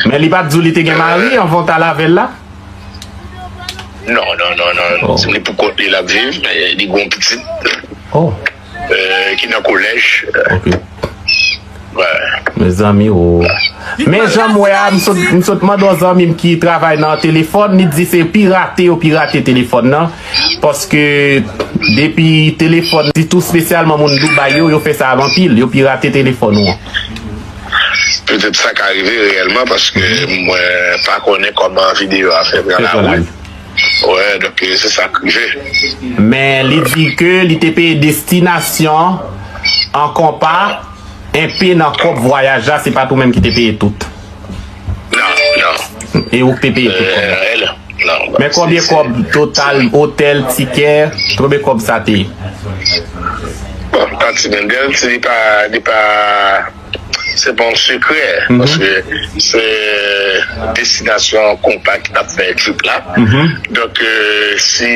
Men li pat di w li te gen mari anvan w t al avè l la? Non, non, non, non, non. Se li pou kont li l ap viv. Li gen yon pitit ki nan kolèj. Mezanmi o! Men jan m wè a, m sot mande yon zanmi m ki travay nan telefòn, li di se pirate yo pirate telefòn nan. Paske depi telefòn, sitou spesyalman moun Dubai yo, yo fè sa anpil. Yo pirate telefòn ou an. Petèt sa ka rive reyèlman paske mwen pa konnen kòman videyo a fè pran lawout. Wè, donk se sa k rive. Men li di ke li te peye destinasyon an konpa, enpe nan kòb vwayaj la, se pat ou menm ki te peye tout. Nan, nan. E ou k te peye tout kòb la? L, nan. Men konbyen kòb total otèl, tikè, konbyen kòb sa te? Bon, pa ti Mendel, ti li pa, li pa, se pa yon sekrè, paske se destinasyon konpa ki t ap fè trip la, donk si.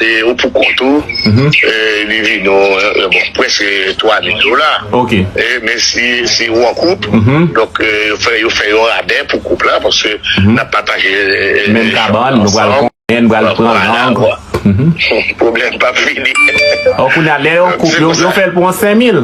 E ou pou kont ou, li vini w, bon, prèske 3 mil dola. Ok. Men si ou an koup, donk yo fè yon rabè pou koup la, paske n ap pataje. Menm kabann, nou pral konbyen, nou pral pran lang. Pwoblèm pa p fini. Kounye a, lè yon koup, yo fè l pou yon 5 mil.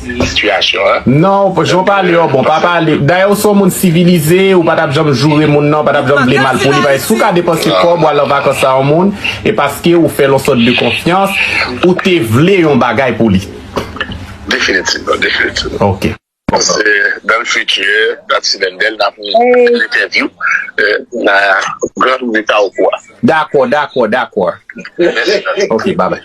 sitiyasyon. Non ou jan w pale yo bon pa pale dayè ou se yon moun sivilize ou pa tap janm joure moun nan ou pa tap janm vle mal pou li paske si w ka depanse kòb ou al an vakans a yon moun e paske ou fè l yon sòt de konfyans ou te vle yon bagay pou li Definitivman definitivman Ok. Se dans le futur dans ti Mendel n ap fè entèvyou nan gran leta ou pou a. Dakò dakò dakò Mèsi Ok ba bay.